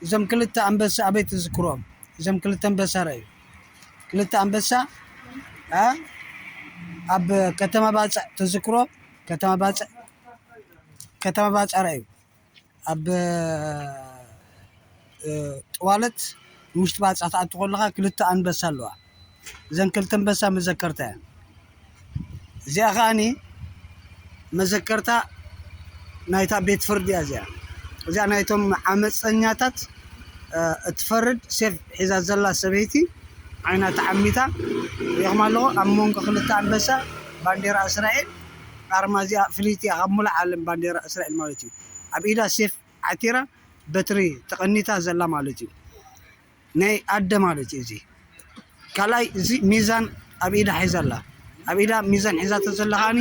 እዞም ክልተ ኣንበሳ ኣበይ ትዝክሮም እዞም ክልተ ኣንበሳ ረኣዩ ክልተ ኣንበሳ ኣብ ከተማ ባፅዕ ትዝክሮ ከተማ ባፅዕ ከተማ ባፅዕ ረኣዩ ኣብ ጥዋለት ውሽጢ ባፅዕ ትኣቱ ከለኻ ክልተ ኣንበሳ ኣለዋ እዘን ክልተ ኣንበሳ መዘከርታ እየን። እዚኣ ከዓኒ መዘከርታ ናይታ ቤት ፍርዲ እያ እዚኣ እዚኣ ናይቶም ዓመፀኛታት እትፈርድ ሴፍ ሒዛ ዘላ ሰበይቲ ዓይና ተዓሚታ ሪኹም ኣለኹ ኣብ መንጎ ክልተ ኣንበሳ ባንዴራ እስራኤል ኣርማ እዚኣ ፍልይቲ እያ ካብ ሙሉእ ዓለም ባንዴራ እስራኤል ማለት እዩ ኣብ ኢዳ ሴፍ ዓቲራ በትሪ ተቐኒታ ዘላ ማለት እዩ ናይ ኣደ ማለት እዩ እዚ ካልኣይ እዚ ሚዛን ኣብ ኢዳ ሒዛ ኣላ ኣብ ኢዳ ሚዛን ሒዛቶ ዘላ ከዓኒ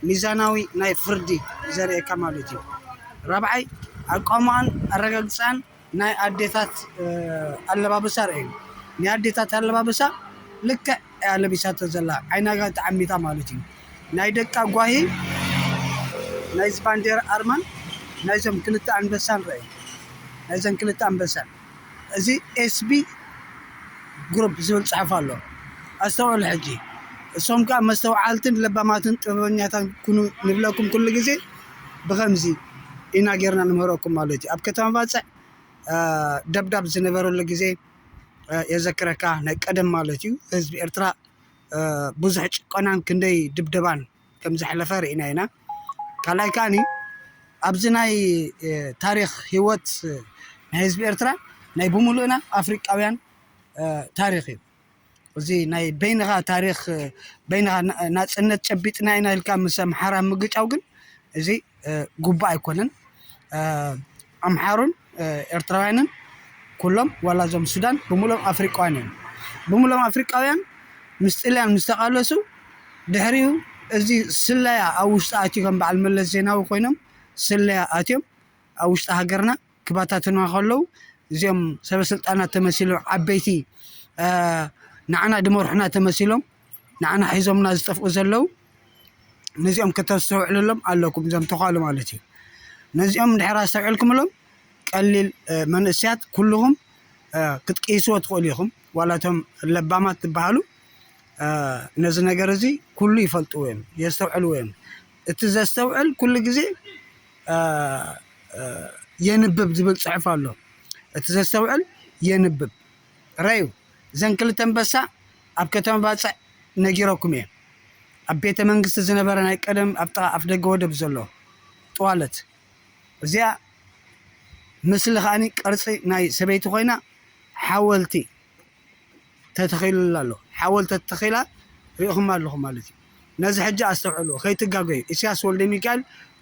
ሚዛናዊ ናይ ፍርዲ ዘርእየካ ማለት እዩ ራብዓይ ኣቋምኣን ኣረጋግፅኣን ናይ ኣዴታት ኣለባብሳ ርእዩ ናይ ኣዴታት ኣለባብሳ ልክዕ እያ ለቢሳቶ ዘላ ዓይና ጋ ተዓሚታ ማለት እዩ ናይ ደቃ ጓሂ ናይዚ ባንዴራ ኣርማን ናይዞም ክልተ ኣንበሳን ርእዩ ናይዘን ክልተ ኣንበሳን እዚ ኤስቢ ግሩፕ ዝብል ጽሑፍ ኣሎ ኣስተውዕሉ ሕጂ እሶም ከኣ መስተውዓልትን ለባማትን ጥበበኛታን ኩኑ ንብለኩም ኩሉ ግዜ ብኸምዚ ኢና ጌርና ንምህረኩም ማለት እዩ ኣብ ከተማ ባጽዕ ደብዳብ ዝነበረሉ ግዜ የዘክረካ ናይ ቀደም ማለት እዩ ህዝቢ ኤርትራ ብዙሕ ጭቆናን ክንደይ ድብደባን ከም ዘሕለፈ ርኢና ኢና። ካልኣይ ከኣኒ ኣብዚ ናይ ታሪኽ ህይወት ናይ ህዝቢ ኤርትራ ናይ ብምሉእና ኣፍሪቃውያን ታሪኽ እዩ። እዚ ናይ በይንኻ ታሪኽ በይንኻ ናጽነት ጨቢጥና ኢና ኢልካ ምስ ኣምሓራ ምግጫው ግን እዚ ግቡእ ኣይኮነን። ኣምሓሩን ኤርትራውያንን ኩሎም ዋላ እዞም ሱዳን ብሙሎም ኣፍሪቃውያን እዮም ብሙሎም ኣፍሪቃውያን ምስ ጥልያን ምስ ተቃለሱ ድሕሪኡ እዚ ስለያ ኣብ ውሽጢ ኣትዩ ከም በዓል መለስ ዜናዊ ኮይኖም ስለያ ኣትዮም ኣብ ውሽጢ ሃገርና ክባታትኑዋ ከለዉ እዚኦም ሰበስልጣናት ተመሲሎም ዓበይቲ ንዓና ድመርሑና ተመሲሎም ንዓና ሒዞምና ዝጠፍኡ ዘለው ነዚኦም ከተስተውዕልሎም ኣለኩም እዞም ተዃሉ ማለት እዩ ነዚኦም ድሕር ኣስተውዕልኩምሎም ቀሊል መንእስያት ኩልኹም ክትቅይስዎ ትኽእሉ ኢኹም ዋላቶም ለባማት ትበሃሉ ነዚ ነገር እዚ ኩሉ ይፈልጥዎ እዮም የስተውዕልዎ እዮም እቲ ዘስተውዕል ኩሉ ግዜ የንብብ ዝብል ፅሑፍ ኣሎ እቲ ዘስተውዕል የንብብ ረዩ እዘን ክልተ ኣንበሳ ኣብ ከተማ ባጽዕ ነጊረኩም እየ ኣብ ቤተ መንግስቲ ዝነበረ ናይ ቀደም ኣብ ጥቓ ኣፍደገ ወደብ ዘሎ ጥዋለት እዚኣ ምስሊ ከዓኒ ቅርጺ ናይ ሰበይቲ ኮይና ሓወልቲ ተተኺሉላ ኣሎ ሓወልቲ ተተኺላ ሪኢኹማ ኣለኹም ማለት እዩ ነዚ ሕጂ ኣስተውዕልዎ ከይትጋገዩ ኢሰያስ ወልደሚካኤል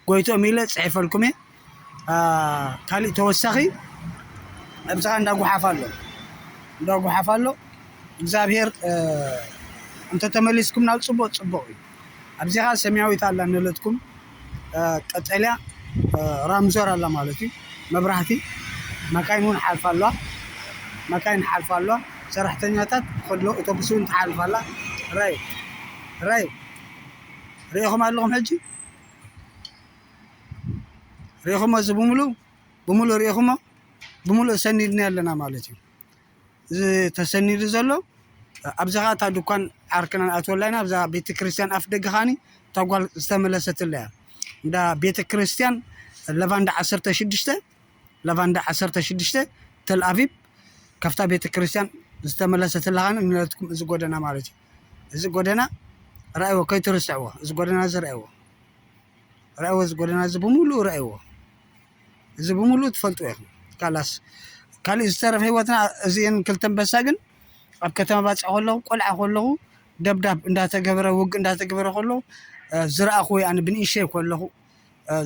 ጎይትኦም ኢለ ጽሒፈልኩም እየ ካሊእ ተወሳኺ ኣብጽኻ እንዳ ጉሓፍ ኣሎ እንዳ ጉሓፍ ኣሎ እግዚኣብሄር እንተተመሊስኩም ናብ ጽቡቅ ጽቡቅ እዩ ኣብዚኻ ሰማያዊት ኣላ ንለትኩም ቀጠልያ ራምዞር ኣላ ማለት እዩ መብራህቲ መካይን ውን ሓልፋ ኣለዋ መካይን ሓልፋ ኣለዋ ሰራሕተኛታት ከሎ ኦቶቡስ ውን ትሓልፍ ኣላ ራይ ራይ ሪኢኹም ኣለኹም ሕጂ ሪኢኹሞ እዚ ብምሉ ብምሉ ሪኢኹሞ ብምሉ ሰኒድና ኣለና ማለት እዩ። ተሰኒዱ ዘሎ ኣብዚ ከዓ እታ ድኳን ዓርክና ንኣትወላ ኢና ኣብዛ ቤተክርስትያን ኣፍ ደገ ከዓኒ እታ ጓል ዝተመለሰትላ እያ እንዳ ቤተክርስትያን ለቫንዳ ዓሰርተ ሽዱሽተ ለቫንዳ ዓሰርተ ሽዱሽተ ተልኣቪብ ካብታ ቤተክርስትያን ዝተመለሰትላ ከዓኒ ንለትኩም እዚ ጎደና ማለት እዩ እዚ ጎደና ረኣይዎ ከይትርስዕዎ እዚ ጎደና እዚ ረኣይዎ ረኣይዎ እዚ ጎደና እዚ ብምሉእ ረኣይዎ እዚ ብምሉእ ትፈልጥዎ ኢኹም ካላስ ካልእ ዝተረፈ ህይወትና እዚኤን ክልተ ኣንበሳ ግን ኣብ ከተማ ባፅዕ ከለኹ ቆልዓ ከለኹ ደብዳብ እንዳተገበረ ውግእ እንዳተገበረ ከለኹ ዝረኣኹ ወይ ኣነ ብንእሽተይ ከለኹ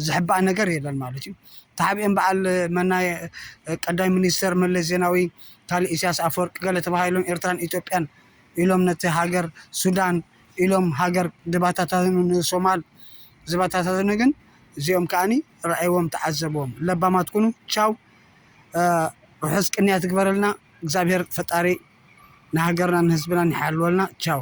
ዝሕባእ ነገር የለን ማለት እዩ ተሓቢኦም በዓል መናይ ቀዳይ ሚኒስተር መለስ ዜናዊ ካልእ ኢሳያስ ኣፈወርቂ ገለ ተባሂሎም ኤርትራን ኢትዮጵያን ኢሎም ነቲ ሃገር ሱዳን ኢሎም ሃገር ድባታታትኑ ንሶማል ዝባታታትኑ ግን እዚኦም ከኣ ረኣይዎም ተዓዘብዎም ለባማት ኩኑ ቻው ርሑስ ቅንያት ይግበረልና እግዚኣብሔር ፈጣሪ ንሃገርናን ንህዝብናን ይሓልወልና ቻው።